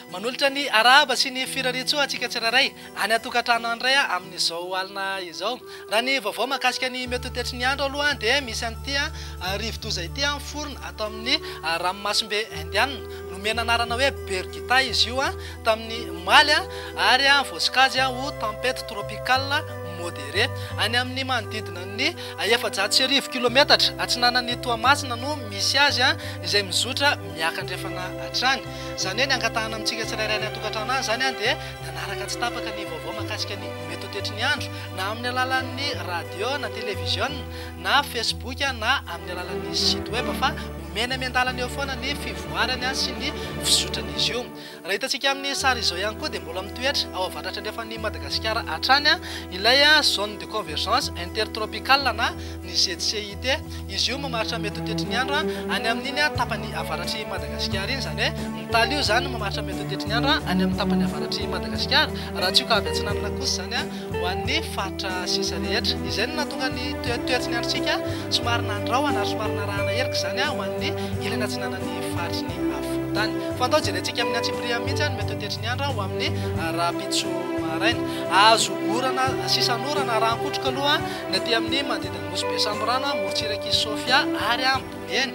Manolotra ny arahaba sy ny firarian-tsoa antsika tsirairay any an-tokantrano any indray amin'izao alina izao. Raha ny vaovao mahakasika ny mety ho tetry ny andro aloha dia misy an'ity rivodoza ity miforona ato amin'ny ranomasimbe Indianina. Nomena anarana hoe Birgitta izy io tamin'ny omaly ary voasokajy ho tempête tropicale. Modéré. Any amin' ny manodidina ny efajato sy arivo kilometatra atsinanan' i Toamasina no misy azy, izay mizotra miakandrefana hatrany. Izany hoe ny angatahana amintsika tsirairay any an-tokantrano any izany dia ny hanaraka tsy tapaka ny vaovao mahakasika ny mety ho toetry ny andro, na amin' ny alalan' ny radiô na televiziôna na Facebook na amin' ny alalan' ny site web, fa omeny miandalana eo foana ny fivoarany sy ny fizotran' izy io. Raha hitantsika amin'ny sary izao ihany koa dia mbola mitoetra ao avatratra andrefan'i Madagasikara hatrany ilay Zone de Convergence Intertropicale na ny ZCIT. Izy io mamaritra metotetry ny andro any amin'iny tapany avaratr'i Madagasikara iny. Izany hoe ny tali io izany mamaritra metotetry ny andro any amin'ny tapany avaratr'i Madagasikara raha tsy io ka avy atsinanana kosa izany. ho an'ny faritra sisa rehetra. Izay no nahatonga ny toetry ny androntsika somary nandrahona ary somary narahana erika izany ho an'ny ilany atsinanan'ny faritry ny afovoan-tany. Fantaoha jerentsika amin'ny antsipiriany mihitsy ny mety ho tetry ny andro ho amin'ny rahampitso maraina. Hahazo orana sisan'orana rahan-kotroka aloha ny aty amin'ny manodidin'ny nosy Besamborano, morontsirak'i Sofia ary Boeny,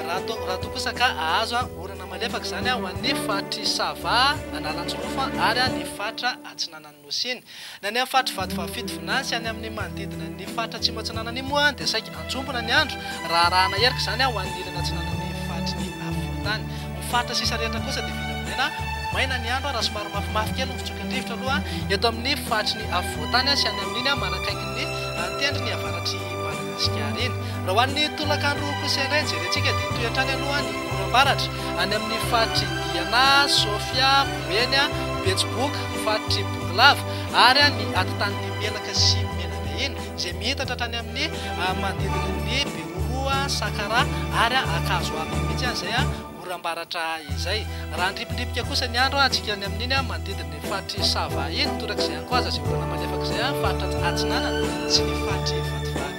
raha toa raha toa kosa ka hahazo orana malefaka izany ho an'ny faritr'i Sava, Analanjirofo ary ny faritra atsinanan'ny. Nosy-ny. Ny any amin'ny faritry Vatovavy-fito Vinany sy any amin'ny manodidina ny faritra Atsimo Atsinanan'I moa dia saika anjombona ny andro raha arahana erika izany ho an'ny ilany atsinanan'ny faritrin'ny Afovoan-tany. Ny faritra sisa rehetra kosa dia vinavinaina ho maina ny andro raha somary mafimafy kely ny fitsokan-drivotra aloha eto amin'ny faritrin'ny Afovoan-tany sy any amin'iny manakaikin'ny tendron'ny avaratr'i Madagasikara iny. Raha ho an'ny tolakandro kosa indray jerentsika dia hitohy hatrany aloha ny oram-baratra any amin'ny faritry Diana, Sofia, Boeny, Betsiboka, faritry Bongolava ary an' ny atitan'ny ny Menaka sy ny Menabe iny, izay mientatra hatrany amin' ny manodidina an' ny Beoroa, Sakara ary an Ankazo Avo mihitsy an izay an oram-baratra izay. Raha handripindripika kosa ny andro an antsika any amin' iny manodidin' ny faritry Sava iny, torak'izay an Koaza izay orana malefaka izay an faritra atsinanana sy ny faritry Vatovavy.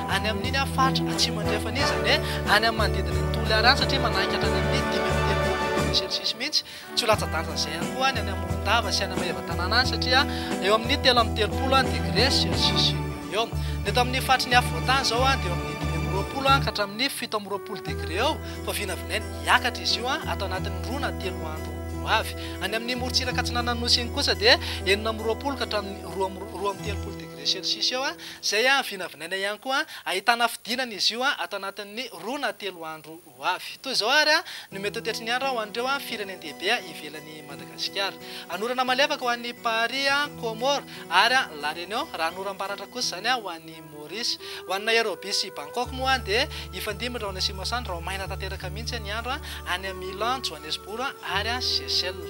Any amin'iny aho faritra Atsimo Andrefana iny izany hoe any amin'ny manodidina ny Toliara any satria manainga hatrany amin'ny dimy amby telopolo degre celsius mihitsy. Tsy ho latsa-danja izay ihany koa ny any Morondava sy any Maevatanàna any satria eo amin'ny telo amby telopolo degre celsius eo ho eo. Ny eto amin'ny faritry ny afovoan-tany izao dia eo amin'ny dimy amby roapolo ka hatramin'ny fito amby roapolo degre eo vao vinavinaina hiakatra izy io ato anatin'ny roa na telo andro ho avy. Any amin'ny morontsiraka atsinanan'ny Nosy iny kosa dia enina amby roapolo ka hatramin'ny roa amby telopolo degre celsius eo Izay no vinavinaina ihany koa ahitana fidinana izy io ato anatin'ny roa na telo andro ho avy. Toy izao ary no mety ho toetry ny andro ho an'ireo firenen-dehibe ivelan'i Madagasikara. Hanorana malefaka ho an'i Paris, Comores, ary La Réunion, raha hanoram-baratra kosa izany ho an'i Maurice. Ho an'i Nairobi sy Bangkok moa dia hifandimby ny rahona sy masoandro raho-maina tanteraka mihitsy ny andro any amin'ny Milan, Johannesburg, ary Seychelles.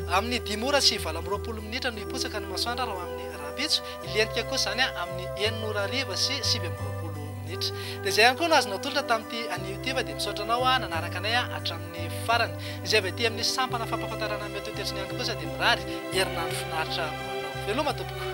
Amin'ny dimy ora sy valo amby roapolo minitra no hipotsaka ny masoandro raho amin'ny rahampitso. Hilentika koa izany amin'ny enina ora hariva sy sivy amby roapolo minitra. Dia izay ihany koa no azo natolotra tamin'ity an'i Youtube, dia misaotra anao nanaraka anay hatramin'ny farany. Izay avy aty amin'ny sampana fampahafantarana ny Mety ho Tetriny ihany kosa dia mirary herinandro finaritra ho anao. Veloma tompoko.